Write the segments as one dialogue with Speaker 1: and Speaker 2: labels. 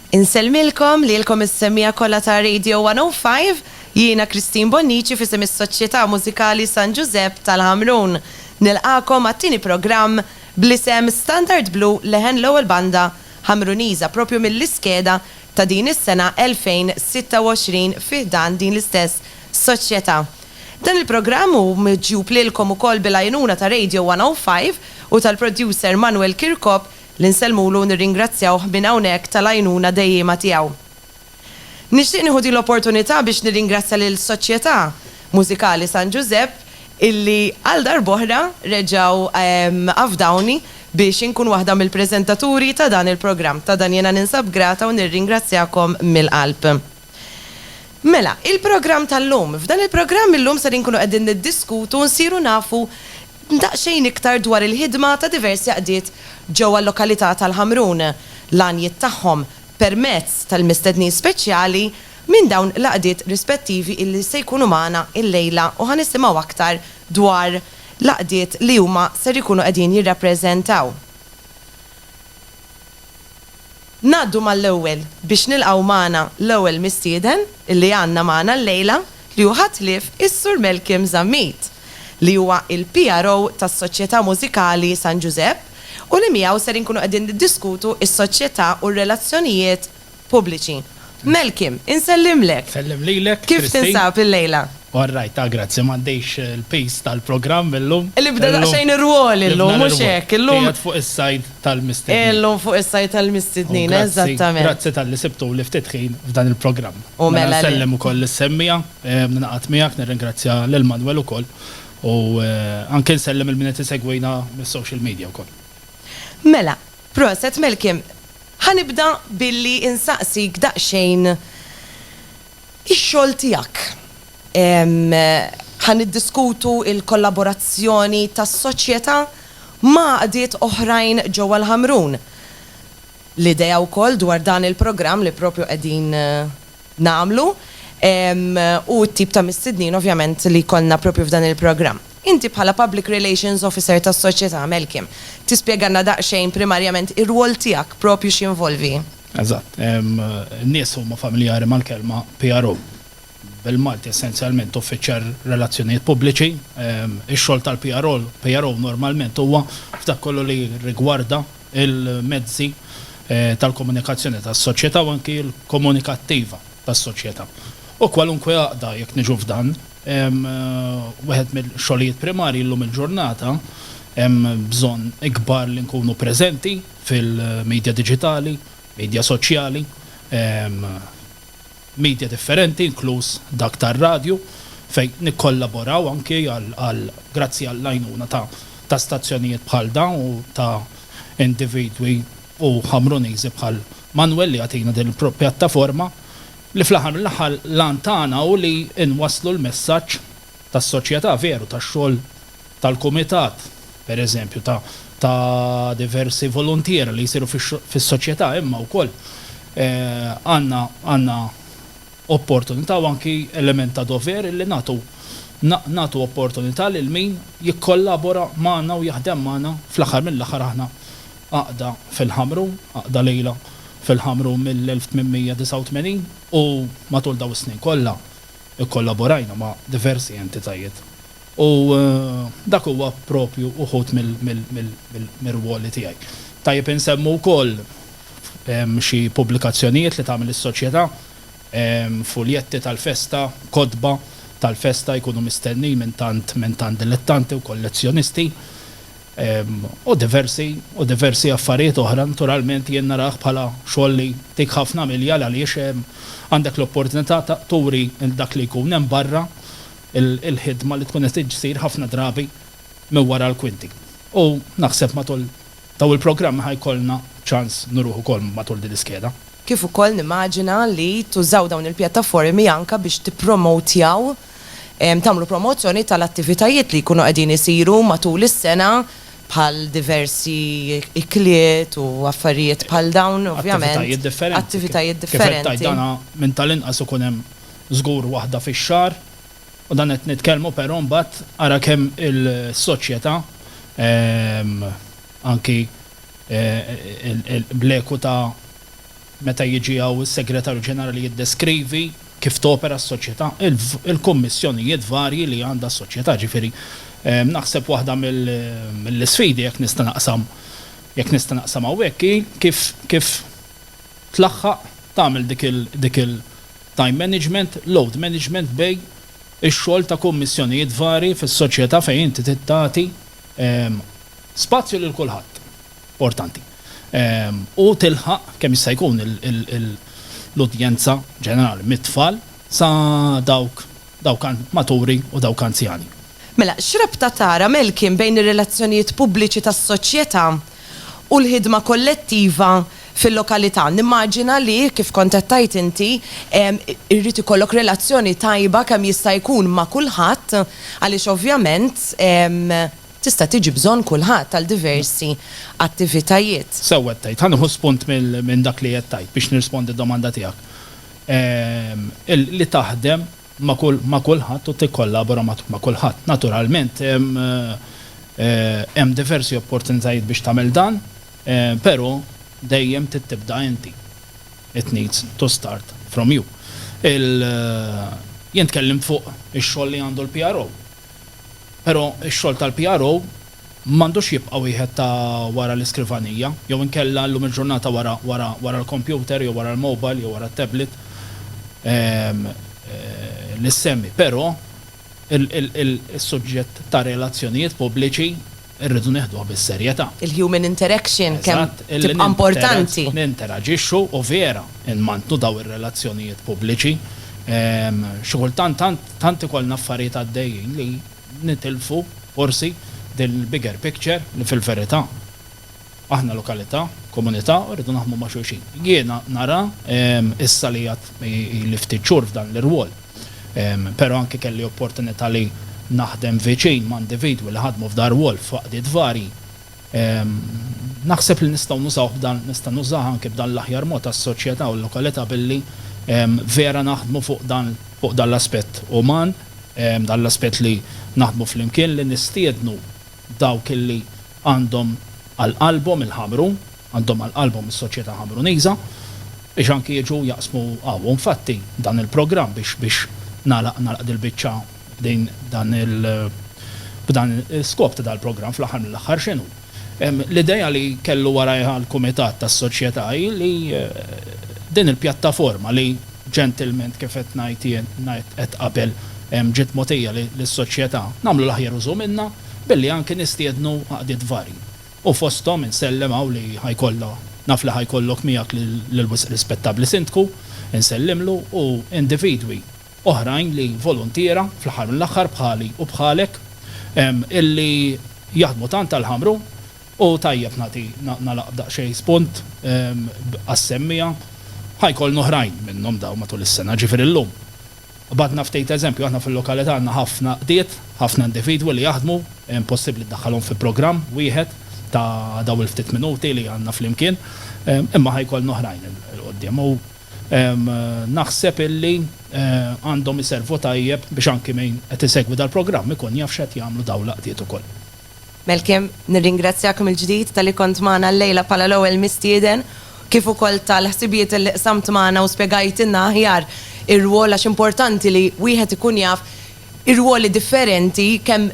Speaker 1: Insellmilkom lilkom is-semmiegħa kollha ta' Radio 105. Jiena Christine Bonnici f'isem is-Soċjetà Mużikali San Ġużepp tal-Ħamrun. Nilqagħkom għat-tieni programm bl-isem Standard Blu Leħen L-ewwel banda Ħamruniża propju mill-iskeda ta' din is-sena 2026 fi ħdan din l-istess Soċjetà. Dan il-programm hu miġjub lilkom ukoll bil-għajnuna ta' Radio 105 u tal-producer Manuel Kirkop li nsellmulu u nirringrazzjawh minn hawnhekk tal-għajnuna dejjiema tiegħu. Nixtieq nieħu din l-opportunità biex nirringrazzja lill-Soċjetà Mużikali San Ġużepp illi għal darb'oħra reġgħu afdawni biex inkun waħda mill-preżentaturi ta' dan il-programm. Ta' dan jiena ninsab grata u nirringrazzjakom mill-qalb. Mela, il-programm tal-lum. F'dan il-programm illum ser inkunu qegħdin niddiskutu u nsiru nafu daqsxejn iktar dwar il-ħidma ta' diversi għaqdiet ġewwa l-lokalità tal-Ħamrun, l-għanjiet tagħhom permezz tal-mistednin speċjali minn dawn l-għaqdiet rispettivi illi se jkunu magħna illejla u ħa nisimgħu aktar dwar l-għaqdiet li huma ser ikunu qegħdin jirrappreżentaw. Ngħaddu mal-ewwel biex nilqgħu magħna l-ewwel mistieden li għandna magħna llejla li hu ħadd ħlief is-Sur Malcolm Zammit li huwa il-PRO tas-Soċjetà Mużikali San Ġużepp u li miegħu ser inkunu qegħdin niddiskutu s-soċjetà u r-relazzjonijiet pubbliċi. Melkim, insellimlek! Nsellem lilek, Christine.
Speaker 2: Kif tinsab illejla?
Speaker 1: All right, ta' grazzi,
Speaker 2: m'għaddejx il-pace tal-programm illum. Nibda daqsxejn
Speaker 1: ir-rwol illum, mhux hekk? Illum. Qiegħed fuq is-sajd
Speaker 2: tal-mistednin. Illum fuq is-sajd
Speaker 1: tal-mistednin, eżattament. Grazzi talli sibtuli
Speaker 2: ftit ħin f'dan il-programm. U mela le. Nsellem
Speaker 1: ukoll lis-semmiegħa,
Speaker 2: ningħaqad miegħek nirringrazzja lil Manwel ukoll u anke nsellem lil min qed isegwina mis-social media wkoll. Mela, proset
Speaker 1: Malcolm, ħa nibda billi insaqsik daqsxejn ix-xogħol tiegħek. Ħa niddiskutu l-kollaborazzjoni tas-Soċjetà ma' għaqdiet oħrajn ġewwa l-Ħamrun. L-idea wkoll dwar dan il-programm li propju qegħdin nagħmlu u t-tip ta' mistednin ovvjament li jkollna proprju f'dan il-programm. Inti bħala Public Relations Officer tas-Soċjetà, Melkim, tispjegalna daqsxejn primarjament ir-rwol tiegħek proprju x'jinvolvi? Eżatt.
Speaker 2: In-nies huma familjari mal-kelma PRO. Bil-Malti essenzjalment Uffiċjar Relazzjonijiet Pubbliċi. Ix-xogħol tal-PRO normalment huwa f'dak kollu li jirrigwarda il-mezzi tal-komunikazzjoni tas-soċjetà u anki l-komunikattiva tas-soċjetà. U kwalunkwe għaqda, jekk niġu f'dan, wieħed mill-xogħlijiet primarji llum il-ġurnata, hemm bżonn ikbar li nkunu preżenti fil-midja diġitali, midja soċjali, media differenti inkluż dak tar-radju fejn nikkollaboraw anki għal grazzi għall-għajnuna ta' ta' stazzjonijiet bħal dawn u ta' individwi u Ħamruniżi bħal Manwel li jagħtina din il-pjattaforma li fl-aħħar mill-aħħar l-għan tagħna hu li nwasslu l-messaġġ tas-soċjetà, veru, tax-xogħol tal-kumitat, pereżempju, ta' ta' diversi voluntier li jsiru fis-soċjetà, imma wkoll għandna għandna opportunità u anki element ta' dover li nagħtu nagħtu opportunità lil min jikkollabora magħna u jaħdem magħna, fl-aħħar mill-aħħar aħna għaqda fil-Ħamrun, għaqda lejla fil-Ħamrun mill-1889 u matul dawn is-snin kollha, Ikkollaborajna ma' diversi entitajiet u dak huwa proprju wħud mir-rwoli tiegħi. Tajjeb insemmu wkoll xi pubblikazzjonijiet li tagħmel is-Soċjetà, fuljetti tal-festa, kotba tal-festa jkunu mistennin minn tant dilettanti u kollezzjonisti. u diversi u diversi affarijiet oħra naturalment jien narah bħala xogħol li jtik ħafna milja għaliex għandek l-opportunità ta' turi lil dak li jkun hemm barra il-ħidma li tkun qed issir ħafna drabi minn wara l-kwinti u naħseb matul dawn il-programmi ħa jkollna ċans nuruh ukoll matul din l-iskeda. Kif ukoll
Speaker 1: nimmaġina li tużaw dawn il-pjattaformi anke biex tippromowtjaw tagħmlu promozzjoni tal-attivitajiet li jkunu qegħdin isiru matul is-sena bħal diversi ikliet u affarijiet bħal dawn ovvjament. Attivitajiet differenti. Attivitajiet differenti. Kif qed tgħid dan minn
Speaker 2: tal-inqas ikun hemm żgur waħda fix-xahar u dan qed nitkellmu però mbagħad ara kemm is-soċjetà anki bl-eku ta' Meta jiġi hawn is-Segretarju Ġenerali jiddeskrivi kif topera s-Soċjetà, il-kummissjonijiet varji li għandha s-Soċjetà, ġifieri naħseb waħda mill-isfidi, jekk nista' naqsam, jekk nista' naqsam hawnhekk, hi kif kif tlaħħaq tagħmel dik il dik il time management, load management bejn ix-xogħol ta' kummissjonijiet varji fis-Soċjetà fejn inti trid tagħti spazju lil kulħadd. importanti u tilħaq kemm jista' jkun l-udjenza ġenerali mit-tfal sa dawk dawk maturi u dawk anzjani. Mela, x'rabta
Speaker 1: tara Melkin bejn ir-relazzjonijiet pubbliċi tas-soċjetà u l-ħidma kollettiva fil-lokalità? Nimmaġina li, kif kont qed tgħid inti, irid ikollok relazzjoni tajba kemm jista' jkun ma' kulħadd għaliex ovvjament Tista' tiġi bżonn kulħadd għal diversi attivitajiet. Sew qed tgħid. Ħa
Speaker 2: nieħu spunt minn dak li qed tgħid biex nirrispondi d-domanda tiegħek. Li taħdem ma' kulħadd u tikkollabora ma' kulħadd. Naturalment hemm diversi opportunitajiet biex tagħmel dan, però dejjem trid tibda inti. It needs to start from you. Jien tkellimt fuq ix-xogħol li għandu l-PRO. Però x-xogħol tal-PRO m'għandux jibqa' wieħed ta' wara l-iskrivanija, jew inkella llum il-ġurnata wara wara wara l-kompjuter jew wara l-mobile jew wara t-tablet li ssemmi. Però il il il is-suġġett ta' relazzjonijiet pubbliċi Irridu nieħduha bis-serjetà. Il-human interaction
Speaker 1: kemm tibqa' importanti. Eżatt, li ninteraġixxu
Speaker 2: u vera nmantnu dawn ir-relazzjonijiet pubbliċi. Xi kultant tant ikollna affarijiet għaddejjin li nitilfu forsi din il-bigger picture li fil-verità. Aħna lokalità, komunità u rridu naħdmu ma' xulxin. Jiena nara issa li għad ili ftit xhur f'dan l-irwol, pero anki kelli opportunità li naħdem viċin ma' individwi li ħadmu f'dan rwol f'għaqdiet varji, naħseb li nistgħu nużawh b'dan, nista' nużah anki b'dan l-aħjar mod għas-soċjetà u l-lokalità billi vera naħdmu fuq dan fuq dan l-aspett uman, dan l-aspett li naħdmu flimkien, li nistiednu dawk li għandhom għal qalbhom il-Ħamrun, għandhom għal qalbhom is-soċjetà Ħamruniża, biex anki jiġu jaqsmu hawn. U infatti dan il-programm biex biex nagħlaq nagħlaq dil-biċċa b'din dan il b'dan l-iskop ta' dal-programm fl-aħħar mill-aħħar x'inhu? L-idea li kellu warajha l-kumitat tas-soċjetà hi li din il-pjattaforma li ġentilment kif qed ngħid jien, ngħidt qed qabel, ġiet mogħtija lis-Soċjetà, nagħmlu l-aħjar użu minnha billi anki nistiednu għaqdiet varji. U fosthom insellem hawn li ħa jkollha, naf li ħa jkollok miegħek lill-wisq rispettabbli Sindku, insellimlu, u individwi oħrajn li voluntiera, fl-aħħar mill-aħħar bħali u bħalek, illi jaħdmu tant għall-Ħamrun, U tajjeb nagħti nagħlaq b'daqsxejn spunt għas-semmiegħa. Ħa jkollna oħrajn minnhom dawn matul is-sena, ġifieri llum qbadna ftit eżempju. Aħna fil-lokalità għandna ħafna qdiet, ħafna individwi li jaħdmu, impossibbli ddaħħalhom fi programm wieħed ta' dawn il-ftit minuti li għandna flimkien, imma ħa jkollna oħrajn 'il quddiem u naħseb illi għandhom iservu tajjeb biex anki min qed isegwi dal-programm ikun jaf x'qed jagħmlu dawn l-qdiet ukoll. Malcolm,
Speaker 1: nirringrazzjak mill-ġdid talli kont magħna llejla bħala l-ewwel mistieden, kif ukoll tal-ħsibijiet li qsamt magħna u spjegajtilna aħjar ir-rwol għax importanti li wieħed ikun jaf ir-rwoli differenti kemm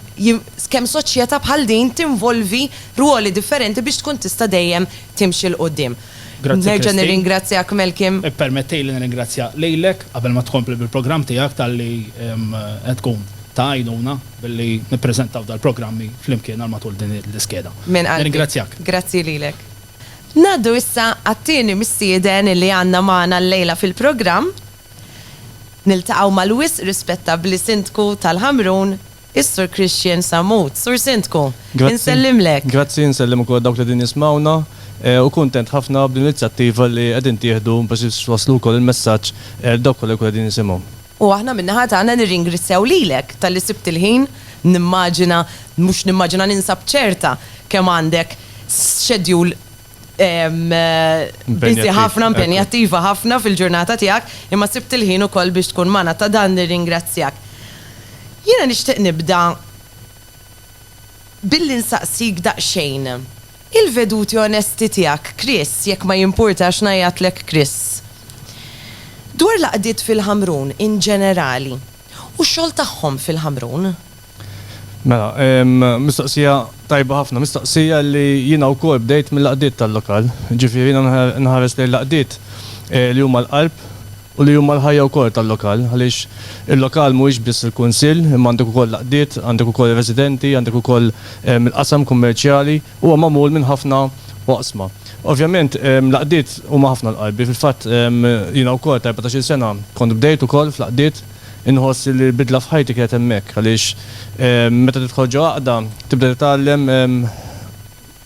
Speaker 1: kemm soċjeta bħal din tinvolvi rwoli differenti biex tkun tista' dejjem timxi 'l quddiem. Nerġa' nirringrazzjak Malcolm. Ippermettili nirringrazzja
Speaker 2: lilek qabel ma tkompli bil-programm tiegħek talli qed tkun ta' għajnuna. billi nippreżentaw dal-programmi flimkien għal matul din l-iskeda. Minn qalbi. Nirringrazzjak. Grazzi lilek.
Speaker 1: Ngħaddu issa għat-tieni mistieden li għandna magħna llejla fil-programm. Niltaqgħu mal-wisq rispettabbli Sindku tal-Ħamrun, is-Sur Christian Sammut. Sur Sindku, insellimlek. Grazzi, nsellem ukoll
Speaker 3: dawk li qegħdin jismgħuna, u kuntent ħafna bl-inizjattiva li qegħdin tieħdu biex twasslu wkoll il-messaġġ għal dawk kollha li jkunu qegħdin jisimgħu. U aħna min-naħa
Speaker 1: tagħna nirringrissjaw lilek talli sibt il-ħin, nimmaġina, mhux nimmaġina ninsab ċerta kemm għandek schedule busy ħafna, impenjattiva ħafna fil-ġurnata tiegħek, imma sibt il-ħin ukoll biex tkun magħna, ta' dan nirringrazzjak. Jiena nixtieq nibda Billi nsaqsik daqsxejn. Il-veduti onesti tiegħek, Chris, jekk ma jimpurtax ngħajjatlek Chris. Dwar l-għaqdiet fil-Ħamrun in ġenerali. U x-xogħol tagħhom fil-Ħamrun.
Speaker 3: Mela, mistoqsija tajba ħafna. Mistoqsija li jiena wkoll bdejt mill-għaqdiet tal-lokal. Ġifieri jiena nħares lejn l-għaqdiet li huma l-qalb. u li huma l-ħajja wkoll tal-lokal għaliex il-lokal mhuwiex biss il-kunsill imma għandek ukoll l-għaqdiet, għandek ukoll ir-residenti, għandek ukoll il-qasam kummerċjali, huwa magħmul minn ħafna oqsma. Ovvjament l-għaqdiet huma ħafna l-qalbi, fil-fatt jiena wkoll ta' erbatax-il sena kont bdejt ukoll fl-għaqdiet, inħoss li l-bidla f'ħajti kienet hemmhekk għaliex meta tidħol ġo għaqda tibda titgħallem,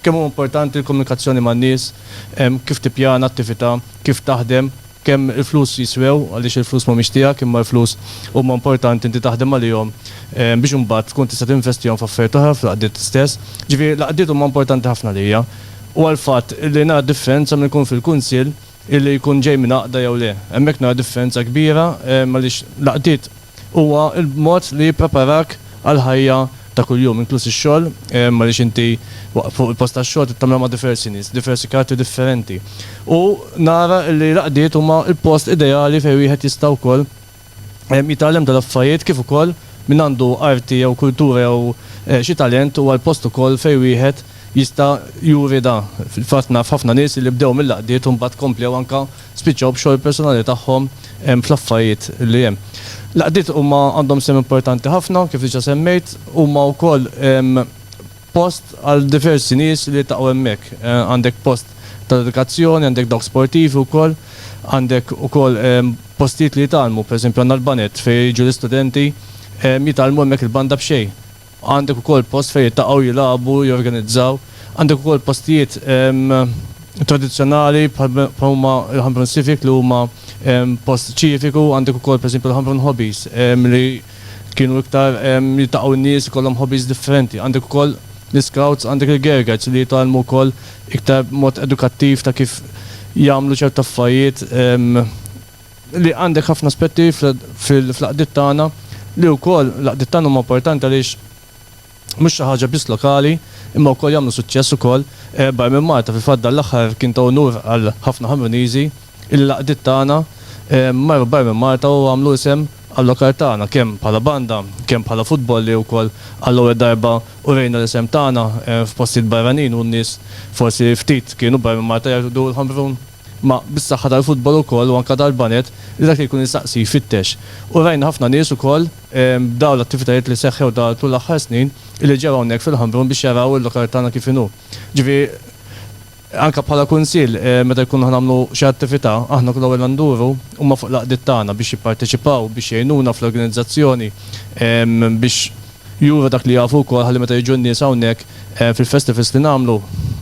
Speaker 3: Kemm huwa importanti l-komunikazzjoni man-nies, kif tippjana attività, kif taħdem, kemm il-flus jiswew, għaliex il-flus m'humiex tiegħek imma l-flus huma importanti inti taħdem għalihom biex imbagħad tkun tista' tinvestihom f'affarijiet oħra fl-għaqdiet stess. Ġifieri l-għaqdiet huma importanti ħafna għalija. Huwa l-fatt li nara differenza minn inkun fil-Kunsill, Illi jkun ġej minn għaqda jew le. Hemmhekk nara differenza kbira għaliex l-għaqdiet huwa l-mod li jippreparak għall-ħajja ta' kuljum inkluż ix-xogħol għaliex inti fuq il-post tax-xogħol trid tagħmilha ma' diversi nies, diversi karattri differenti. U nara illi l-għaqdiet huma l-post ideali fejn wieħed jista' wkoll jitgħallem dal-affarijiet kif ukoll min għandu arti jew kultura jew xi talent huwa l-post ukoll fejn wieħed jista' juri da. Fil-fatt naf ħafna nies li bdew mill-għaqdiet u mbagħad komplew anke spiċċaw b'xogħol personali tagħhom fl-affarijiet li hemm. L-għaqdiet huma għandhom sehem importanti ħafna kif diġà semmejt, huma wkoll post għal diversi nies li jiltaqgħu hemmhekk. Għandek post tal-edukazzjoni, għandek dawk sportivi wkoll, għandek ukoll postijiet li jitgħallmu, pereżempju għandna l-baned fejn jiġu l-istudenti jitgħallmu hemmhekk il-banda b'xejn. Għandek ukoll post fejn jiltaqgħu jilagħbu, jorganizzaw. Għandek ukoll postijiet tradizzjonali bħal bħal huma l-Ħamrun Civic li huma post ċiviku, għandek ukoll pereżempju l-Ħamrun Hobbies li Kienu iktar jiltaqgħu n-nies, ikollhom hobbies differenti. Għandek ukoll l-iscouts, għandek il-gergers li jitgħallmu wkoll iktar b'mod edukattiv ta' kif jagħmlu ċertu affarijiet li għandek ħafna aspetti fl-għaqdiet tagħna li wkoll l-għaqdiet tagħna huma importanti għaliex Mhux xi ħaġa biss lokali, imma wkoll jagħmlu suċċess ukoll barra minn Malta. Fil-fatt dan l-aħħar kien ta' unur għal ħafna Ħamruniżi illi l-għaqdiet tagħna marru barra minn Malta u għamlu isem għal-lokal tagħna kemm bħala banda, kemm bħala futbol li wkoll għall-ewwel darba urejna l-isem tagħna f'postijiet barranin u n-nies forsi ftit kienu barra minn Malta jgħidu l-Ħamrun. Ma bis-saħħa tal-futbol ukoll u anka tal-baned li dak li jkun jistaqsi jfittex. U rajna ħafna nies ukoll b'dawn l-attivitajiet li seħħew tul l-aħħar snin illi ġew hawnhekk fil-Ħambrun biex jaraw il-lokal tagħna kif inhu. Ġifieri anka bħala kunsill meta jkunu ħa nagħmlu xi attività aħna kull ewwel nduru huma fuq l-għaqdiet tagħna biex jipparteċipaw, biex jgħinuna fl-organizzazzjoni biex. Juru dak li jafu wkoll ħalli meta jiġu n-nies hawnhekk fil-festivals li nagħmlu,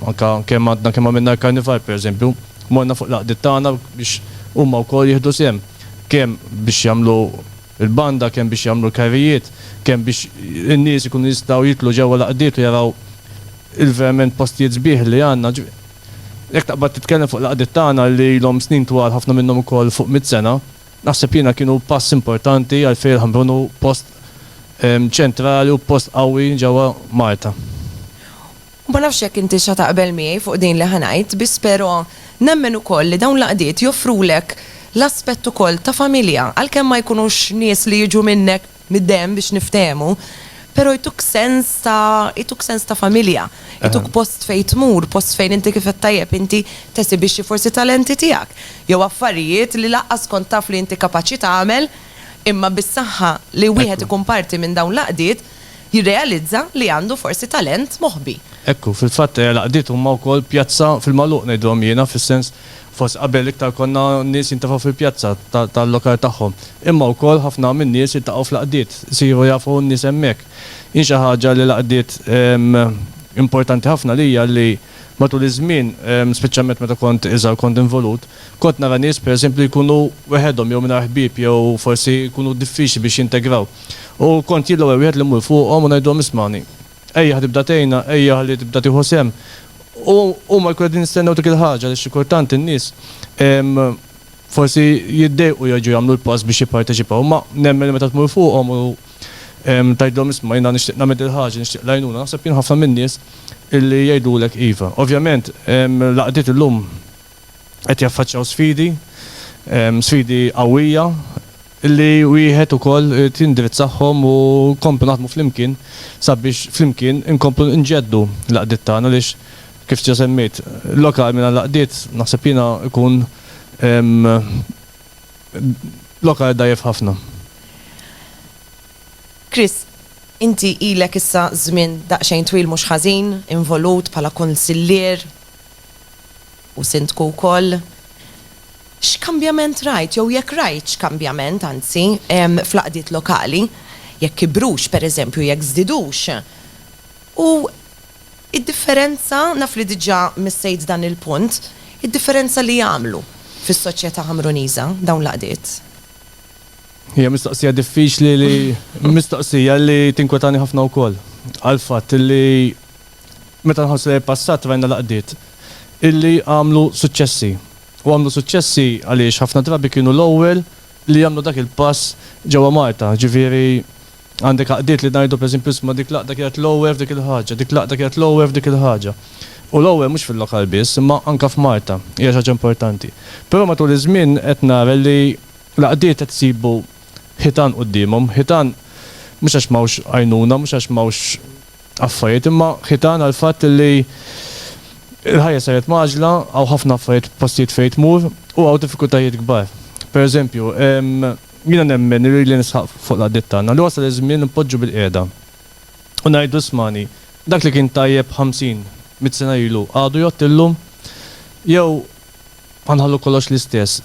Speaker 3: anke kemm għadna kemm għamilna l-Karnival pereżempju, morna fuq l-għaqdiet tagħna biex huma wkoll jieħdu sehem, kemm biex jagħmlu l-banda, kemm biex jagħmlu l-karrijiet, kemm biex in-nies ikunu jistgħu jidħlu ġewwa l-għaqdiet u jaraw il-verament postijiet sbieħ li għandna. Jekk taqbad titkellem fuq l-għaqdiet tagħna li ilhom snin twal ħafna minnhom ukoll fuq mitt sena, Naħseb jiena kienu pass importanti għal Fiel Ħamrun u post ċentrali u post qawwi ġewwa Malta.
Speaker 1: U ma nafx jekk intix ħa taqbel miegħi fuq din li ħa ngħid, biss pero nemmen ukoll li dawn l-għaqdiet joffrulek l-aspett ukoll ta' familja, għalkemm ma jkunux nies li jiġu minnek, mid-demm biex niftehmu, pero jtuk sens ta' jtuk sens ta' familja, jtuk post fejn tmur, post fejn inti kif għedt tajjeb inti tesibixxi forsi talenti tiegħek, jew affarijiet li lanqas kont taf li inti kapaċi tagħmel, imma bis-saħħa li wieħed ikun parti minn dawn l-għaqdiet jirrealizza li għandu forsi talent moħbi. Ekku, fil-fatt
Speaker 3: l-għaqdiet huma wkoll pjazza fil-magħluq ngħidilhom jiena, fis-sens Fost qabel l-iktar konna nies jintefgħu fil-pjazza tal-lokal tagħhom, imma wkoll ħafna min-nies jiltaqgħu fl-għaqdiet, isiru jafu n-nies hemmhekk. Jien xi ħaġa li l-għaqdiet importanti ħafna għalija li matul iż-żmien, speċjalment meta kont iżgħar kont involut, kont nara nies pereżempju li jkunu weħedhom jew mingħajr ħbieb jew forsi jkunu diffiċli biex jintegraw u kont jien l-ewwel wieħed li mmur fuqhom u ngħidilhom ismagħni, Ejjaħ tibda tgħinna, ejjaħ li tibda tieħu sehem. U huma jkunu qegħdin jistennew dik il-ħaġa għaliex xi kultant in-nies forsi jiddejqu jerġgħu jagħmlu l-pass biex jipparteċipaw, imma nemmen li meta tmur fuqhom u tgħidilhom isma' jiena nixtieq nagħmel dil-ħaġa, nixtieq l-għajnuna, naħseb jien ħafna min-nies li jgħidulek iva. Ovvjament l-għaqdiet illum qed jaffaċċjaw sfidi, sfidi qawwija, li wieħed ukoll irid jindirizzahom u nkomplu naħdmu flimkien sabiex flimkien inkomplu nġeddu l-għaqdiet tagħna għaliex kif diġà semmejt lokal mingħajr l-għaqdiet naħseb jiena jkun lokal dgħajjef ħafna.
Speaker 1: Chris, inti ilek issa żmien daqsxejn twil mhux ħażin involut bħala kunsillier u sindku wkoll. X'kambjament rajt, jew jekk rajtx kambjament, anzi, fl-għaqdiet lokali, jekk kibrux, pereżempju, jekk żdiedux. U d-differenza, naf li diġà missejt dan il-punt, id-differenza li għamlu fis-soċjetà Ħamruniża dawn l-għaqdiet?
Speaker 3: Hija mistoqsija diffiċli li, mistoqsija li tinkwetani ħafna wkoll, għall-fatt li meta nħarsu lejn il-passat rajna l-għaqdiet illi għamlu suċċessi. U għamlu suċċessi għaliex ħafna drabi kienu l-ewwel li jagħmlu dak il-pass ġewwa Malta. Ġifieri, għandek għaqdiet li ngħidu, pereżempju, isma' dik l-għaqda kienet l-ewwel f'dik il-ħaġa, dik l-għaqda kienet l-ewwel f'dik il-ħaġa. U l-ewwel mhux fil-lokal biss, imma anke f'Malta, hija xi ħaġa importanti. Però matul iż-żmien qed nara li l-għaqdiet qed isibu ħitan quddiemhom, ħitan mhux għax m'hawnx għajnuna, mhux għax m'hawnx affarijiet imma ħitan għall-fatt li l-ħajja saret mgħaġġla, hawn ħafna affarijiet f'postijiet fejn tmur u hawn diffikultajiet kbar. Pereżempju, jiena nemmen, irridli nisħaq fuq l-għaqdiet tagħna, li wasal iż-żmien li npoġġu bilqiegħda u ngħidu ismagħni, dak li kien tajjeb ħamsin, mitt sena ilu għadu jgħodd illum? Jew Ħa nħallu kollox l-istess.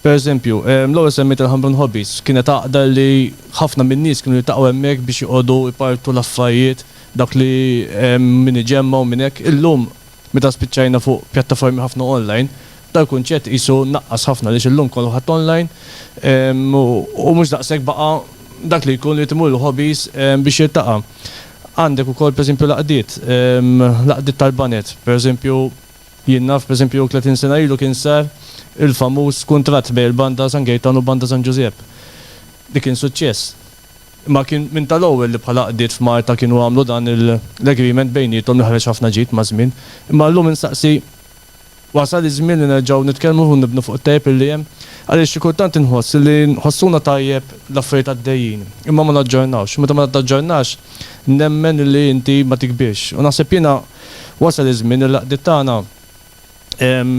Speaker 3: Pereżempju, l-ewwel semmejt il-Hamrun Hobbies, kienet għaqda li ħafna min-nies kienu jiltaqgħu hemmhekk biex joqogħdu jpartu l-affarijiet, dak li min iġemma u min hekk. Illum, meta spiċċajna fuq pjattaformi ħafna online, dal-kunċett qisu naqqas ħafna għaliex illum kulħadd online u mhux daqshekk baqa' dak li jkun irid imur il-hobbies biex jiltaqa'. Għandek ukoll pereżempju l-għaqdiet, l-għaqdiet tal-baned, pereżempju, Jien naf, pereżempju, tletin sena ilu kien sar il-famuż kuntratt bejn il-Banda San Gejtan u Banda San Ġużepp, li kien suċċess. Imma kien minn tal-ewwel li bħala għaqdiet f'Malta kienu għamlu dan l-agreement bejniethom li ħareġ ħafna ġid maż-żmien. Imma llum insaqsi, wasal iż-żmien li nerġgħu nitkellmu u nibnu fuq it-tajjeb li hemm? Għaliex xi kultant inħoss li nħossuna tajjeb l-affarijiet għaddejjin, imma ma naġġornawx. Meta ma taġġornax, nemmen li inti ma tikbirx. U naħseb jiena, Wasal iż-żmien li l-għaqdiet tagħna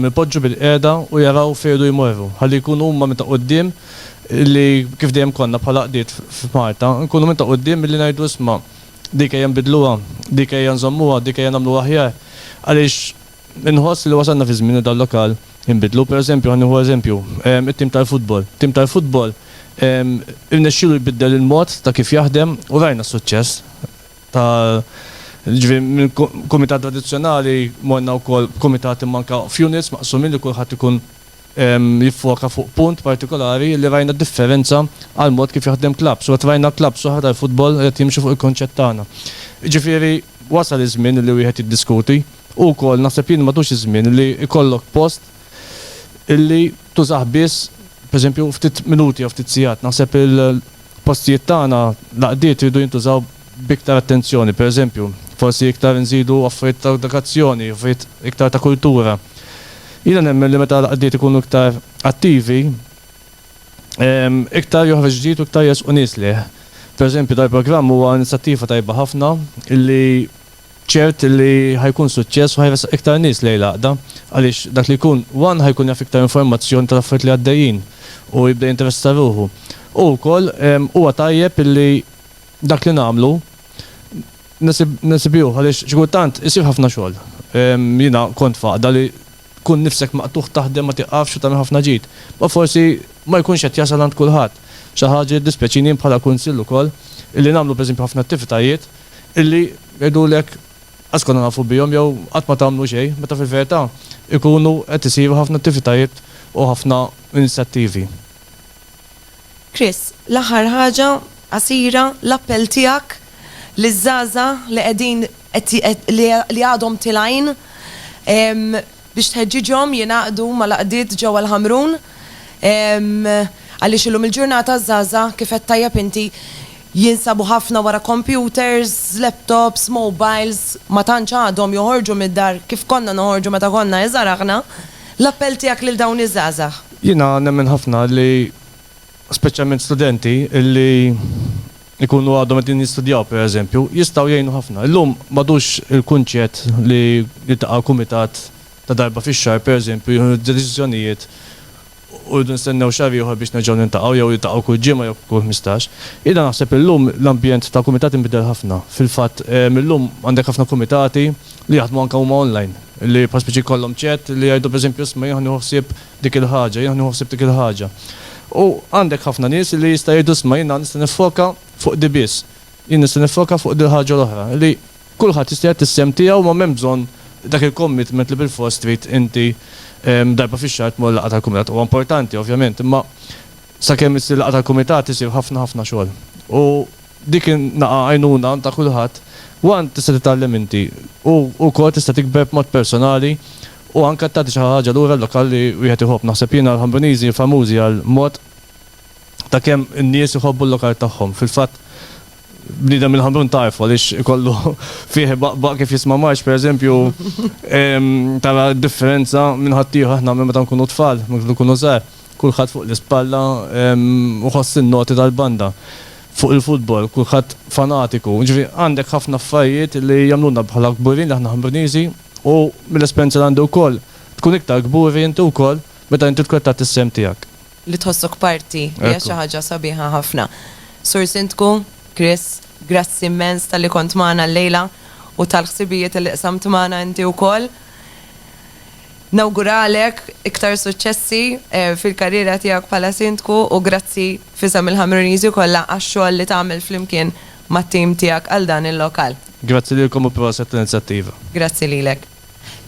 Speaker 3: ipoġġu bil-qiegħda u jaraw fejn jridu jmorru, ħalli jkunu huma minn ta' quddiem li, kif dejjem konna bħala għaqdiet f'Malta, nkunu minn ta' quddiem billi ngħidu isma', dik ejja nbiddluha, dik ejja nżommuha, dik ejja nagħmluha aħjar, għaliex inħoss li wasalna fi żmien li dal-lokal inbiddlu. Pereżempju, ħa nieħu eżempju, it-tim tal-futbol. Tim tal-futbol irnexxielu jbiddel il-mod ta' kif jaħdem u rajna s-suċċess. ta' ġifieri mill-kumitat tradizzjonali morna wkoll b'kumitati imma anke f'units maqsumin li kulħadd ikun jiffoka fuq punt partikolari li rajna differenza għall-mod kif jaħdem klabbs u qed rajna klabbs oħra tal-futbol li qed jimxu fuq il-kunċett tagħna. Jiġifieri wasal iż-żmien li wieħed jiddiskuti u wkoll naħseb jien matux iż-żmien li jkollok post li tużah biss pereżempju ftit minuti jew ftit sigħat naħseb il F'postijiet tagħna, l-għaqdiet iridu jintużaw b'iktar attenzjoni, pereżempju, forsi iktar inżidu affarijiet ta' edukazzjoni, affarijiet iktar ta' kultura. Jiena nemmen li meta l-għaqdiet ikunu iktar attivi, iktar joħroġ ġdid u iktar jersqu nies lejh. Pereżempju, dal-programm huwa inizjattiva tajba ħafna li, Ċert li ħa jkun suċċess u ħa jressaq iktar nies lejn l-għaqda għaliex dak li jkun one ħa jkun jaf iktar informazzjoni tal-affarijiet li għaddejjin u jibda jinteressa ruħu. U wkoll huwa tajjeb li dak li nagħmlu nesibiewh għaliex xi kultant isir ħafna xogħol. Jiena kont f'għaqda li tkun nifsek maqtugħ taħdem ma tieqafx u tagħmel ħafna ġid. Ma forsi ma jkunx qed jasal għand kulħadd. Xi ħaġa li ddispjaċini jien bħala kunsill ukoll illi nagħmlu pereżempju ħafna attivitajiet illi jgħidulek qatt konna nafu bihom jew qatt ma tagħmlu xejn, meta fil-verità jkunu qed isiru ħafna attivitajiet u ħafna inizjattivi.
Speaker 1: Chris, l-aħħar ħaġa, qasira, l-appell tiegħek liż-żgħażagħ li qegħdin li għadhom tilgħin biex tħeġġiġhom jingħaqdu mal-għaqdiet ġewwa l-Ħamrun għaliex illum il-ġurnata ż-żgħażagħ kif għedt tajjeb inti Jinsabu ħafna wara kompjuters, laptops, mobiles, ma tantx għadhom joħorġu mid-dar kif konna noħorġu meta konna iżgħar aħna. L-appell tiegħek lil dawn iż-żgħażagħ? Jiena nemmen ħafna
Speaker 3: li speċjalment studenti li jkunu għadhom qegħdin jistudjaw pereżempju, jistgħu jgħinu ħafna. Illum m'għadux il-kunċett li jiltaqa' kumitat ta' darba fix-xahar pereżempju jieħu d-deċiżjonijiet u rridu nistennew xahar ieħor biex nerġgħu niltaqgħu jew niltaqgħu kull ġimgħa jew kull ħmistax. Jiena naħseb illum l-ambjent ta' kumitat inbidel ħafna. Fil-fatt, illum għandek ħafna kumitati li jaħdmu anke huma online, li bħal spiċi jkollhom chat li jgħidu pereżempju isma' jiena ħa nieħu ħsieb dik il-ħaġa, jiena ħa nieħu ħsieb dik il-ħaġa. U għandek ħafna nies li jista' jgħidu isma' jiena nista' niffoka fuq di biss, jien nista' niffoka fuq dil-ħaġa l-oħra, li. Kulħadd jista' jagħti s-sehem tiegħu ma m'hemm bżonn dak il-commitment li bilfors trid inti darba fix-xahar tmur laqgħa tal-kumitat. Huwa importanti ovvjament imma sakemm issir laqgħa tal-kumitat isir ħafna ħafna xogħol. U dik in-nagħa għajnuna ta' kulħadd u għan tista' titgħallem inti u wkoll tista' tikber b'mod personali u anke tagħti xi ħaġa lura l-lokal li wieħed iħobb. Naħseb jiena l-Ħambuniżi famużi għall-mod ta' kemm in-nies iħobbu l-lokal tagħhom. Fil-fatt Bniedem il-Ħamrun tagħrfu għaliex ikollu fih baqbaq kif jisma' marx pereżempju tara d-differenza minn ħaddieħor aħna minn meta nkunu tfal, meta nkunu żgħar, kulħadd fuq l-ispalla u ħoss in-noti tal-banda. Fuq il-futbol kulħadd fanatiku. Ġifieri għandek ħafna affarijiet li jagħmluna bħala kburin li aħna Ħamruniżi u mill-esperjenza li għandi wkoll tkun iktar kburi inti wkoll meta inti tkun qed tagħti s-sehem tiegħek. li tħossok
Speaker 1: parti hija xi ħaġa sabiħa ħafna. Sur Sindku, Chris, grazzi immens talli kont magħna llejla u tal-ħsibijiet li qsamt magħna inti wkoll. Nawguralek iktar suċċessi fil-karriera tiegħek bħala Sindku u grazzi f'isem il-Ħamruniżi kollha għax-xogħol li tagħmel flimkien mat-tim tiegħek għal dan il-lokal. Grazzi lilkom u
Speaker 3: proset l-inizjattiva. Grazzi lilek.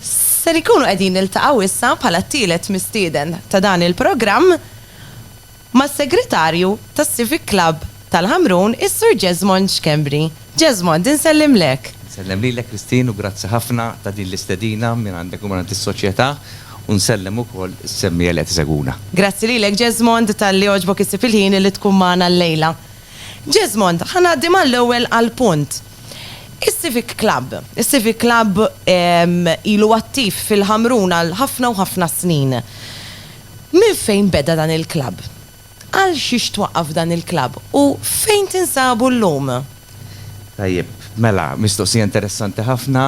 Speaker 1: Ser inkunu qegħdin niltaqgħu issa bħala t-tielet mistieden ta' dan il-programm mas-Segretarju tas-Civic Club tal-Ħamrun, is-Sur Jesmond Schembri. Jesmond, insellimlek. Insellem lilek Christine
Speaker 4: u grazzi ħafna ta' din l-istedina mingħandek u mingħand is-Soċjetà u nsellem ukoll is-semmiegħa li qed isegwuna. Grazzi lilek
Speaker 1: Jesmond talli għoġbok issib il-ħin li tkun magħna llejla. Jesmond, ħa ngħaddi mal-ewwel għall-punt. Is-Civic Club. Is-Civic Club ilu attiv fil-Ħamrun għal ħafna u ħafna snin. Minn fejn beda dan il-club? Għal xiex twaqqaf dan il-club u fejn tinsabu llum? Tajjeb,
Speaker 4: mela, mistoqsija interessanti ħafna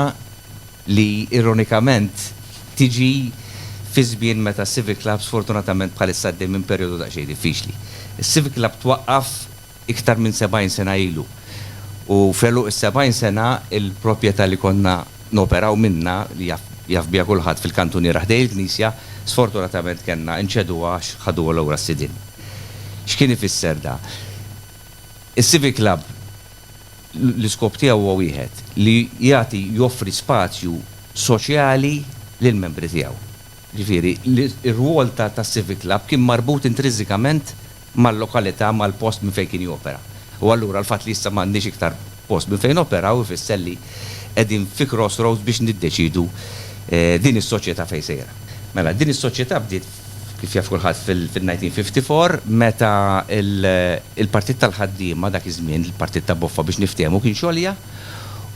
Speaker 4: li ironikament tiġi fi żmien meta s-Civic Club sfortunatament bħalissa għaddej minn perjodu daqsxejn diffiċli. Is-Civic Club twaqqaf iktar minn 70 sena ilu. U f'għeluq is-70 sena, il-propjetà li konna noperaw minnha, li jaf jaf biha kulħadd fil-kantuniera ħdejn il-knisja, sfortunatament kellna inċeduha għax ħaduha lura s-sidien. X'kien ifisser da? Is-Civic Club l-iskop tiegħu huwa wieħed, li jagħti joffri spazju soċjali lill-membri tiegħu. Jiġifieri, ir-rwol ta' tas-Civic Club kien marbut intrinsikament mal-lokalità, mal-post minn fejn kien jopera. U allura l-fatt li issa m'għandniex iktar post minn fejn noperaw ifisser li qegħdin fi crossroads biex niddeċiedu din is-soċjetà fejn sejra. Mela, din is-soċjetà bdiet, kif jaf kulħadd, fil-1954 meta l-Partit tal-Ħaddiema, dak iż-żmien il-Partit ta' Boffa biex niftehmu, kien xogħolja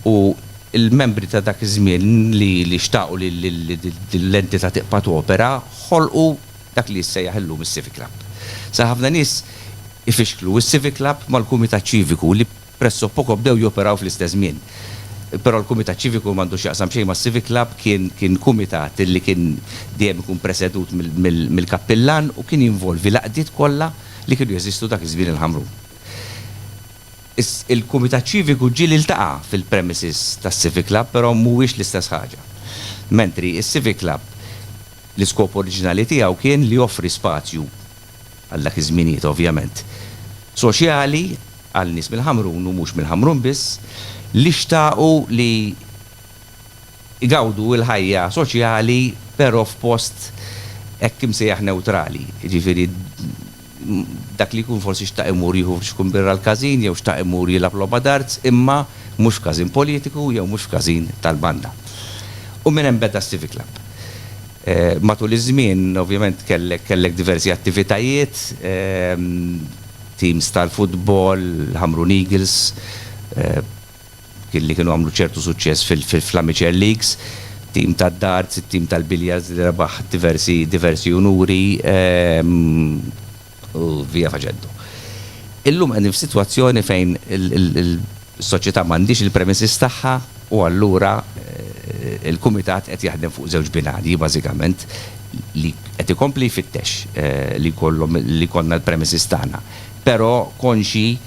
Speaker 4: u l-membri ta' dak iż-żmien li xtaqu li din l-entità tibqa' topera ħolqu dak li jissejjaħ illum is-Civic Club. Sar ħafna nies ifixklu s-Civic Club mal-Kumitat Ċiviku li presso poco bdew joperaw fl-istess żmien. Però l-Kumitat Ċiviku m'għandu x'jaqsam xejn mas-Civic Club, kien kumitat li kien dejjem ikun presedut mill-kappillan u kien jinvolvi l-għaqdiet kollha li kienu jeżistu dak iż-żmien il-Ħamrun. Il-Kumitat Ċiviku ġieli iltaqa' fil-premises tas-Civic Club però mhuwiex l-istess ħaġa. Mentri s-Civic Club L-iskop oriġinali tiegħu kien li joffri spazju, għal dak iż-żminijiet ovvjament, soċjali għal nies mill-Ħamrun u mhux mill-Ħamrun biss, li xtaqu li jgawdu l-ħajja soċjali però f'post hekk imsejjaħ newtrali, jiġifieri, dak li jkun forsi xtaq imur jieħu xkun birra l-każin jew xtaq imur jilgħab logħba darts imma mhux f'każin politiku jew mhux f'każin tal-banda. U minn hemm beda s-Civic Club. Matul iż-żmien ovvjament kellek kellek diversi attivitajiet, teams tal-futbol, Ħamrun Eagles, li kienu għamlu ċertu suċċess fl-amateur leagues, tim tad-darts, it-tim tal-billiards li rebaħ diversi unuri, u via faċendo. Illum qegħdin f'sitwazzjoni fejn is-soċjetà m'għandhiex il-premises tagħha u allura l-Kumitat qed jaħdem fuq żewġ binarji bażikament, li qed ikompli jfittex li jkollhom li jkollna l-premises tagħna. Però konxji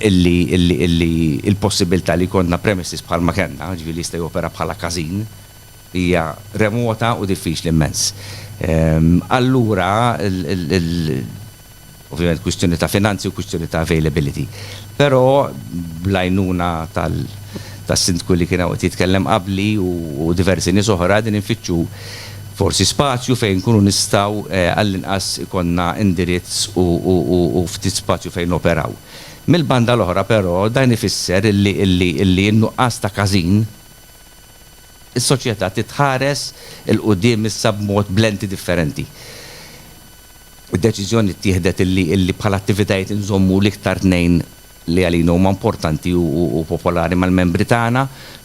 Speaker 4: illi l-possibbiltà li jkollna premises bħalma kellna, jiġifieri li jista' jopera bħala każin, hija remota u diffiċli mmens. Allura ovvjament kwistjoni ta' finanzi u kwistjoni ta' availability. Però bl-għajnuna tas-Sindku li kien hawn qed jitkellem qabli u diversi nies oħra qegħdin infittxu Forsi spazju fejn inkunu nistgħu għall-inqas ikollna indirizz u ftit spazju fejn noperaw. Mill-banda l-oħra però dan ifisser li in-nuqqas ta' każin, is-soċjetà titħares 'il quddiem issa b'mod b'lenti differenti. Id-deċiżjoni ttieħdet li bħala attivitajiet inżommu l-iktar tnejn li għalina huma importanti u popolari mal-membri tagħna,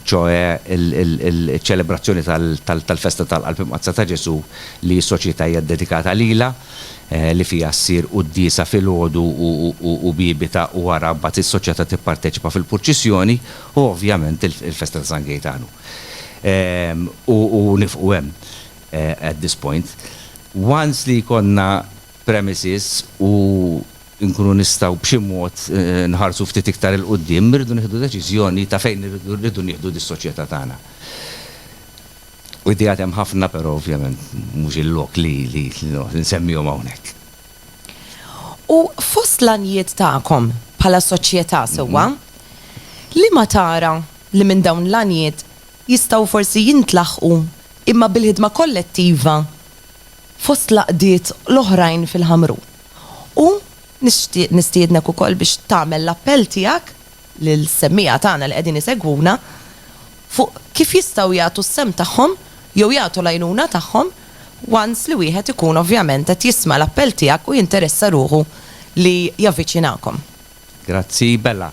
Speaker 4: ċoe iċ-ċelebrazzjoni tal-Festa tal-Qalb Imqaddsa ta' Ġesù li s-Soċjetà hija ddedikata lilha, li fiha ssir quddiesa filgħodu u Bibita u wara mbagħad is-Soċjetà tipparteċipa fil-purċissjoni, u ovvjament il-Festa ta' San Gejtanu. U nifqu hemm at this point. Once li jkollna premises u nkunu nistgħu b'xi mod nħarsu ftit iktar 'il quddiem, irridu nieħdu deċiżjoni ta' fejn irridu nieħdu dis-soċjetà tagħna. U ideat hemm ħafna però ovvjament mhux il-lok li nsemmihom hawnhekk.
Speaker 1: U fost l-għanijiet tagħkom bħala soċjetà sewwa, liema tara li minn dawn l-għanijiet jistgħu forsi jintlaħqu imma bil-ħidma kollettiva fost l-għaqdiet l-oħrajn fil-Ħamrun. U nixtieq nistiednek ukoll biex tagħmel l-appell tiegħek lill-semmiegħa tagħna li qegħdin isegwuna fuq kif jistgħu jagħtu s-sehem tagħhom jew jagħtu l-għajnuna tagħhom once li wieħed ikun ovvjament qed jisma' l-appell tiegħek u jinteressa ruħu li javviċinakom. Grazzi,
Speaker 4: Bella.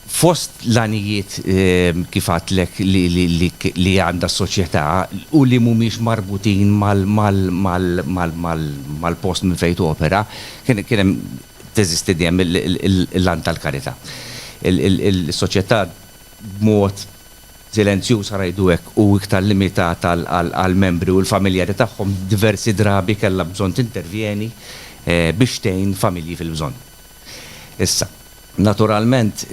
Speaker 4: Fost l-għanijiet, kif għedtlek, li għandha s-soċjetà u li mhumiex marbutin mal-post minn fejn topera, kien hemm, teżisti dejjem l-għan tal-karità. Is-soċjetà b'mod silenzjuż, ħa ngħidu hekk, u iktar limitat għall-membri u l-familjari tagħhom, diversi drabi kellha bżonn tintervjeni biex tgħin familji fil-bżonn. Issa, naturalment,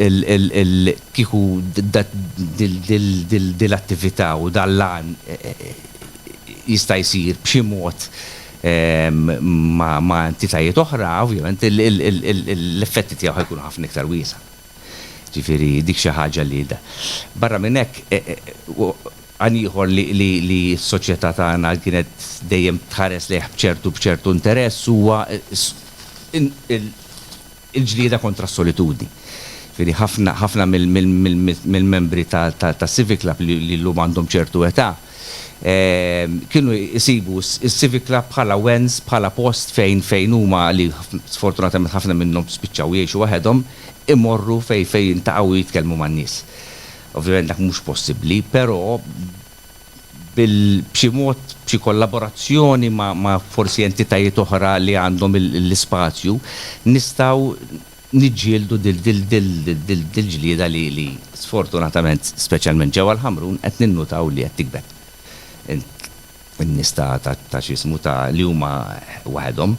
Speaker 4: kieku din l-attività u dan l-għan jista' jsir b'xi mod ma' entitajiet oħra, ovvjament l-effetti tiegħu ħa jkunu ħafna iktar wiesgħa. Jiġifieri dik xi ħaġa li. Barra minn hekk, Għan ieħor li s-soċjetà tagħna kienet dejjem tħares lejh b'ċertu interess huwa l-ġlieda kontra s-solitudni. Jiġifieri ħafna mill-membri tas-Civic Club li llum għandhom ċertu età kienu jsibu s-Civic Club bħala wens, bħala post fejn huma li sfortunatament ħafna minnhom spiċċaw jgħixu waħedhom, imorru fejn jiltaqgħu u jitkellmu man-nies. Ovvjament dak mhux possibbli, però bil b'xi mod, b'xi kollaborazzjoni ma' ma' forsi entitajiet oħra li għandhom l-ispazju, nistgħu niġġieldu dil-ġlieda li sfortunatament, speċjalment ġewwa l-Ħamrun, qed ninnutaw li qed tikber. In-nies ta' x'ismu ta' li huma waħedhom.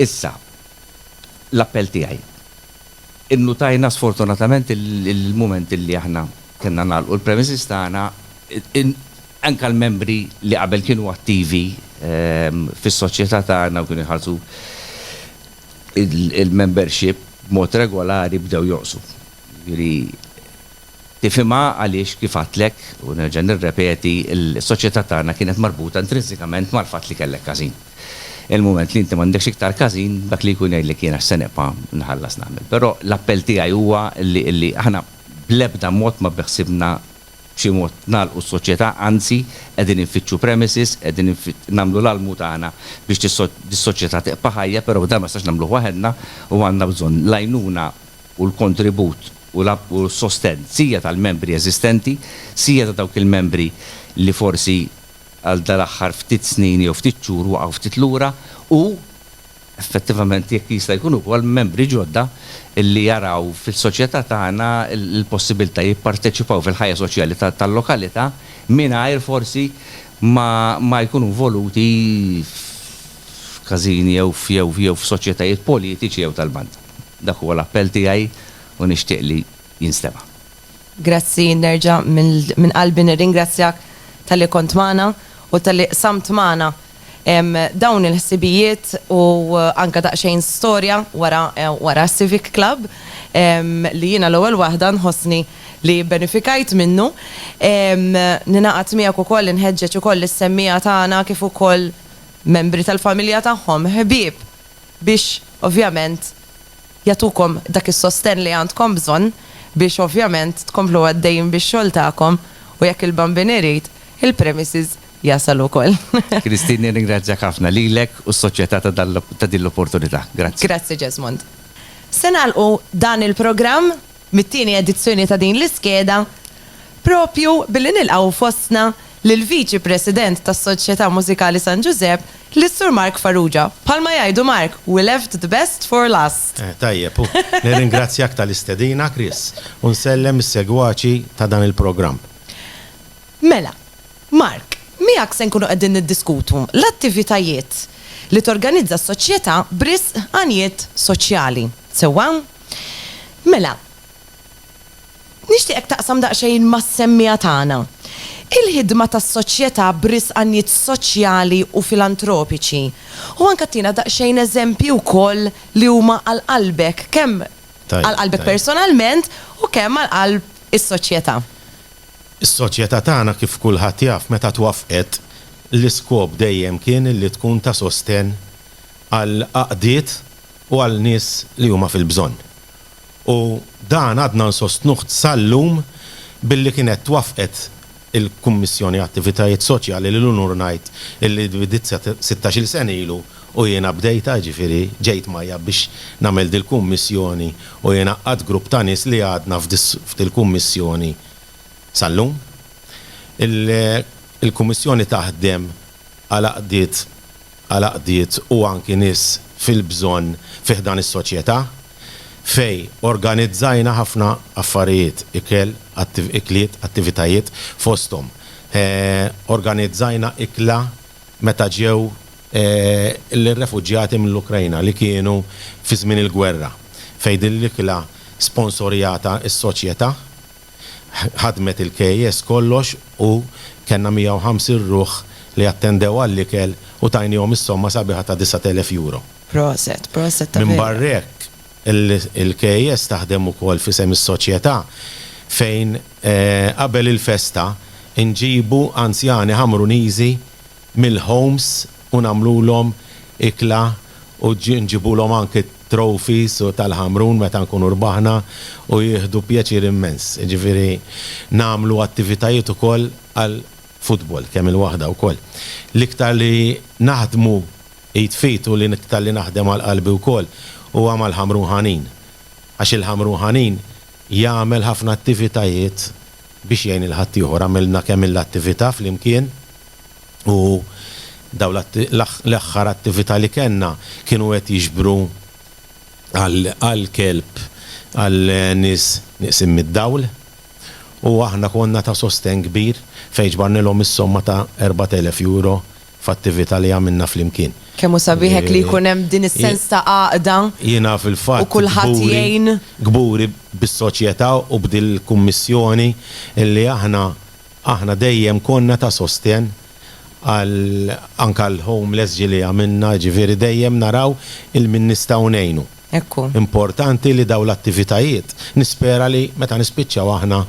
Speaker 4: Issa, l-appell tiegħi. Innutajna sfortunatament il-mument li aħna kellna nagħlqu l-premises tagħna, anke l-membri li qabel kienu attivi fis-soċjetà tagħna u kienu jħallsu l-membership b'mod regolari bdew jonqsu. Jiġifieri. Tifhimha għaliex, kif għadtlek, u nerġa' nirrepeti, is-soċjetà tagħna kienet marbuta intrinsikament mal-fatt li kellek każin. Il-mument li inti m'għandekx iktar każin, dak li jkun jgħidlek jien għax se nibqa' nħallas nagħmel. Però l-appell tiegħi huwa li li aħna bl-ebda mod ma beħsiebna b'xi mod nagħlqu s-soċjetà, anzi, qegħdin infittxu premises, qegħdin nagħmlu l-almu tagħna biex dis-soċjetà tibqa' ħajja, però dan ma nistax nagħmluh waħedna u għandna bżonn l-għajnuna u l-kontribut, u l-sostenn sija tal-membri eżistenti, sija ta' dawk il-membri li forsi għal dal-aħħar ftit snin jew ftit xhur waqgħu ftit lura u, effettivament, jekk jista' jkun ukoll membri ġodda li jaraw fis-soċjetà tagħna l-possibilità jipparteċipaw fil-ħajja soċjali tal-lokalità mingħajr forsi ma jkunu involuti f'kasini jew f'soċjetajiet politiċi jew tal-banda. Dak huwa l-appell tiegħi u nixtieq li jinstema'. Grazzi,
Speaker 1: nerġa' minn qalbi nirringrazzjak talli kont magħna u talli qsamt magħna dawn il-ħsibijiet u anke daqsxejn storja wara wara s-Civic Club li jiena l-ewwel waħda nħossni li bbenefikajt minnu. Ningħaqad miegħek ukoll inħeġġeġ ukoll lis-semmiegħa tagħna kif ukoll membri tal-familja tagħhom, ħbieb, biex ovvjament jagħtukom dak is-sostenn li għandkom bżonn biex ovvjament tkomplu għaddejjin bix-xogħol tagħkom u jekk il-Bambin irid, il-premises jasal ukoll. Christine nirringrazzjak
Speaker 4: ħafna, lilek u s-Soċjetà ta' din l-opportunità. Grazzi. Grazzi Jesmond.
Speaker 1: Se nagħlqu dan il-programm mit-tieni edizzjoni ta' din l-iskeda proprju billi nilqgħu fostna lill-Viċi President tas-Soċjetà Mużikali San Ġużepp, lis-Sur Mark Farrugia. Bħalma jgħidu Mark, we left the best for last. Eh, tajjeb hu.
Speaker 5: Nirringrazzjak tal-istedina, Chris, u nsellem is-segwaċi ta' dan il-programm.
Speaker 1: Mela, Mark, miegħek se nkunu qegħdin niddiskutu l-attivitajiet li torganizza s-Soċjetà b'risq għanijiet soċjali. Sewwa? Mela, nixtieqek taqsam daqsxejn mas-semmiegħa tagħna. Il-ħidma tas-Soċjetà b'risq għanijiet soċjali u filantropiċi u anke ttina daqsxejn eżempji wkoll li huma għal qalbek, kemm għal qalbek personalment u kemm għal qalb is-Soċjetà.
Speaker 5: Is-Soċjetà tagħna kif kulħadd jaf meta twaffqet l-iskop dejjem kien li tkun ta' sostenn għal għaqdiet, u għal nies li huma fil-bżonn. U dan għadna nsostnuh sal-lum billi kienet waffqet il-Kummissjoni Attivitajiet Soċjali li l-unur ngħid illi bdiet sa sittax-il sena ilu u jiena bdejtha, jiġifieri ġejt mgħajjab biex nagħmel dil-Kummissjoni u jien għaqqadt grupp ta' nies li għadna f'dil-Kummissjoni sal-lum. Il-Kummissjoni taħdem għal għaqdiet. għal għaqdiet u anki nies fil-bżonn fi ħdan is-soċjetà fejn organizzajna ħafna affarijiet, ikel, ikliet, attivitajiet, fosthom organizzajna ikla meta ġew l-refuġjati mill-Ukrajna li kienu fi żmien il-gwerra fejn din l-ikla sponsorjata s-soċjetà. ħadmet il-KAS kollox u kellna 150 ruħ li attendew għall-ikel u tajniehom is-somma sabiħa ta' 9,000 euro. Proset, proset
Speaker 1: ta' vera. Minbarra hekk,
Speaker 5: il-KAS taħdem ukoll f'isem is-Soċjetà fejn qabel il-festa nġibu anzjani Ħamruniżi, mill-homes u nagħmlulhom ikla u nġibulhom anki t-trophies u tal-Ħamrun meta nkunu rbaħna u jieħdu pjaċir immens. Jiġifieri nagħmlu attivitajiet ukoll għal futbol kemm il-waħda wkoll. L-iktar li naħdmu id f'id u l-iktar li naħdem għal qalbi wkoll huwa mal-Ħamrun Ħanin. Għax il-Ħamrun Ħanin jagħmel ħafna attivitajiet Biex jgħin lil ħaddieħor għamilna kemm il attività flimkien u dawn l aħħar attività li kellna kienu qed jiġbru għal kelb għal nies nieqsin mid-dawl u aħna konna ta' sostenn kbir fejn ġbarnilhom is-somma ta' 4,000 euro f'attività li għamilna flimkien. Kemm hu sabiħ hekk
Speaker 1: li jkun hemm din is-sens ta' għaqda u kulħadd jgħin. Jiena fil-fatt kburi
Speaker 5: bis-soċjetà u b'dil-kummissjoni li aħna aħna dejjem konna ta' sostenn għal anke għall-homeless ġieli għamilna jiġifieri dejjem naraw il-min nistgħu ngħinu. Hekk hu. Importanti
Speaker 1: li
Speaker 5: dawn l-attivitajiet nispera li meta nispiċċaw aħna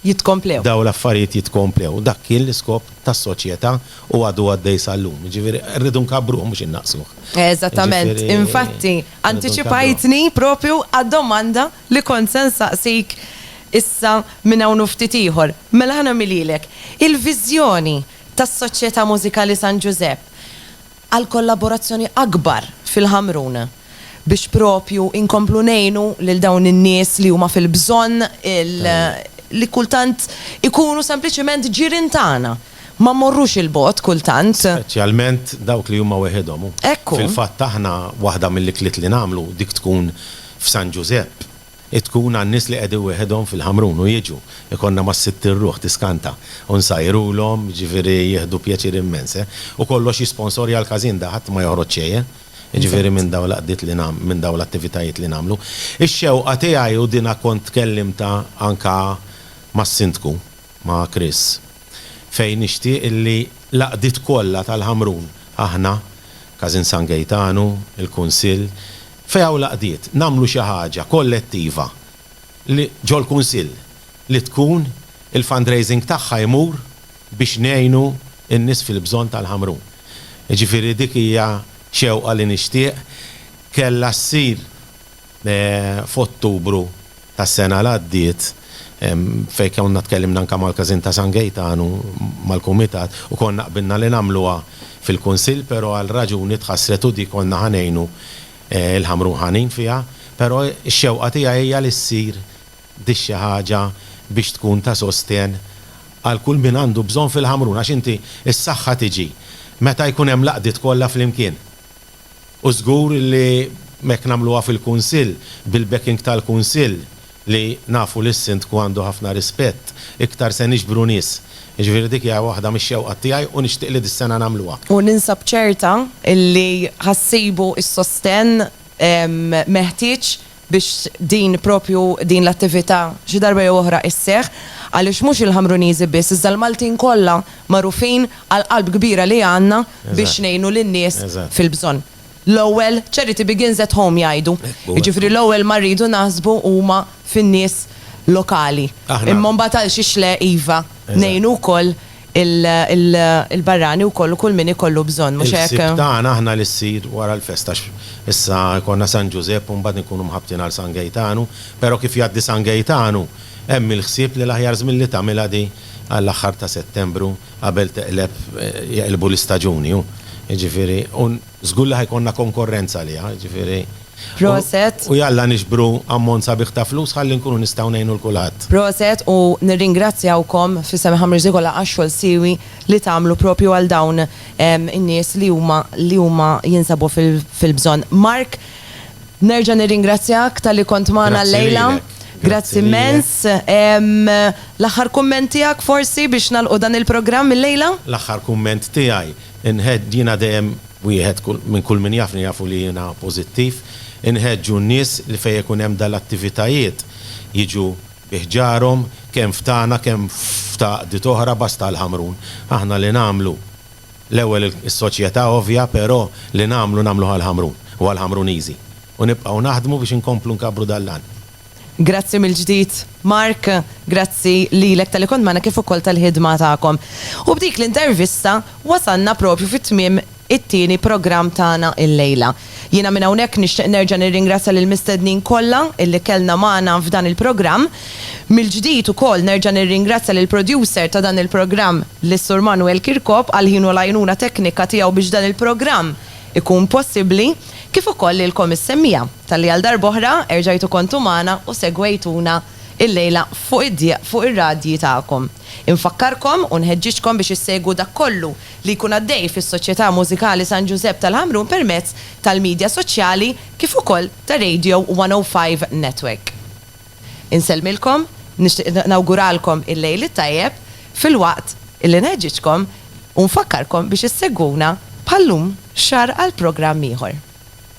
Speaker 5: jitkomplew.
Speaker 1: Dawn l-affarijiet
Speaker 5: jitkomplew. Dak kien l-iskop tas-soċjetà u għadu għaddej sal-lum. Jiġifieri rridu nkabruh mhux innaqqsuh. Eżattament.
Speaker 1: Infatti, antiċipajtni proprju għad-domanda li kont se nsaqsik issa minn hawn u ftit ieħor. Mela ħa nagħmilhielek. Il-viżjoni tas-Soċjetà Mużikali San Ġużepp għal kollaborazzjoni akbar fil-Ħamrun biex propju inkomplu ngħinu lil dawn in-nies li huma fil-bżonn li kultant ikunu sempliċiment ġirien tagħna. Ma mmorrux 'il bogħod kultant. Speċjalment
Speaker 5: dawk li huma weħidhom. Ekku. Fil-fatt
Speaker 1: aħna
Speaker 5: waħda mill-ikliet li nagħmlu dik tkun f'San Ġużepp. Hi tkun għan-nies li qegħdin wieħedhom fil-Ħamrun u jiġu, ikollna mas-Sitt ir-ruħ tiskanta u nsajrulhom, jiġifieri jieħdu pjaċir immens, eh. U kollox jisponsorja l-każin da, ħadd ma joħroġ xejn, eh. Jiġifieri minn dawn l-għaqdiet li nagħm, minn dawn l-attivitajiet li nagħmlu. Ix-xewqa tiegħi u dinha kont tkellimtha anke mas-Sindku, ma' Chris, fejn nixtieq li l-għaqdiet kollha tal-Ħamrun, aħna, Każin San Gejtanu, il-Kunsill, Fejn hawn l-għaqdiet, nagħmlu xi ħaġa kollettiva li ġol-Kunsill li tkun il-fundraising tagħha jmur biex ngħinu n-nies fil-bżonn tal-Ħamrun. Jiġifieri dik hija xewqa li nixtieq, kellha ssir f'Ottubru tas-sena li għaddiet fejn konna tkellimna anke mal-Każin ta' San Gejtan u mal-Kumitat u konna qbilna li nagħmluha fil-Kunsill però għal raġuni tħassret u dik konna ħa ngħinu l-Ħamrun Ħanin fiha però x-xewqa tiegħi hija li ssir dik xi ħaġa biex tkun ta' sostenn għal kull min għandu bżonn fil-Ħamrun għax inti s-saħħa tiġi meta jkun hemm l-għaqdiet kollha flimkien. U żgur li hekk nagħmluha fil-Kunsill, bil-backing tal-Kunsill, li nafu li s-Sindku għandu ħafna rispett, iktar se niġbru nies. Jiġifieri dik hija waħda mix-xewqat tiegħi u nixtieq li dis-sena nagħmluha. U ninsab ċerta
Speaker 1: li ħa ssibu s-sostenn meħtieġ biex din propju din l-attività xi darba jew oħra isseħħ għaliex mhux il-Ħamruniżi biss iżda l-Maltin kollha magħrufin għall-qalb kbira li għandna biex ngħinu lin-nies fil-bżonn. L-ewwel, charity begins at home jgħidu. Jiġifieri l-ewwel ma rridu naħsbu huma fin-nies lokali. Imma mbagħad għalxiex le iva ngħinu wkoll il-barrani wkoll u kull min ikollu bżonn, mhux hekk? Il-ħsieb tagħna aħna li
Speaker 5: ssir wara l-festa għax issa jkollna San Ġużepp u mbagħad inkunu mħabbtin għal San Gejtanu, però kif jgħaddi San Gejtanu hemm il-ħsieb li l-aħjar żmien li tagħmilha di għall-aħħar ta' Settembru qabel teqleb jeqilbu l-istaġuni u jiġifieri u Żgur li ħa jkollna konkorrenza għaliha, jiġifieri. Proset.
Speaker 1: U jalla niġbru
Speaker 5: ammont sabiħ ta' flus ħalli nkunu nistgħu ngħinu 'l kulħadd. Proset u
Speaker 1: nirringrazzjawkom f'isem Ħamriex Zikola għax-xogħol siewi li tagħmlu proprju għal dawn in-nies li huma li huma jinsabu fil-bżonn. Mark, nerġa' nirringrazzjak talli kont magħna llejla. Grazzi lilek. Grazzi immens. L-aħħar kumment tiegħek forsi biex nagħlqu dan il-programm illejla? L-aħħar kumment
Speaker 5: tiegħi. Inħed, jiena dejjem wieħed kull, minn kull min jafni jafu li jiena pożittiv, inħeġġu n-nies li fejn ikun hemm dal-attivitajiet jiġu bi ħġarhom, kemm f'tagħna kemm f'ta' għaqdiet oħra basta l-Ħamrun. Aħna li nagħmlu, l-ewwel is-soċjetà ovvja, però li nagħmlu nagħmluh għall-Ħamrun u għall-Ħamruniżi. U nibqgħu naħdmu biex inkomplu nkabbru dal-għan. Grazzi
Speaker 1: mill-ġdid, Mark. Grazzi lilek talli kont magħna kif ukoll tal-ħidma tagħkom. U b'dik l-intervista wasalna proprju fi tmiem it-tieni programm tagħna illejla. Jiena minn hawnhekk nixtieq nerġa' nirringrazzja lill-mistednin kollha illi kellna magħna f'dan il-programm. Mill-ġdid ukoll nerġa' nirringrazzja lill-producer ta' dan il-programm, lis-Sur Manuel Kirkop għal ħinu l-għajnuna teknika tiegħu biex dan il-programm ikun possibbli, kif ukoll lilkom is-semmiegħa. Talli għal darb'oħra erġajtu kontu magħna u segwejtuna illejla fuq id-dieq fuq ir-radji tagħkom. Infakkarkom u nħeġġiġkom biex issegwu dak kollu li jkun għaddej fis-Soċjetà Mużikali San Ġużepp tal-Ħamrun permezz tal-midja soċjali kif ukoll ta' Radio 105 Network. Insellmilkom, nixtieq nawguralkom il-Lejl it-Tajjeb filwaqt li nħeġġiġkom u nfakkarkom biex issegwuna bħal-lum xahar għal programm ieħor.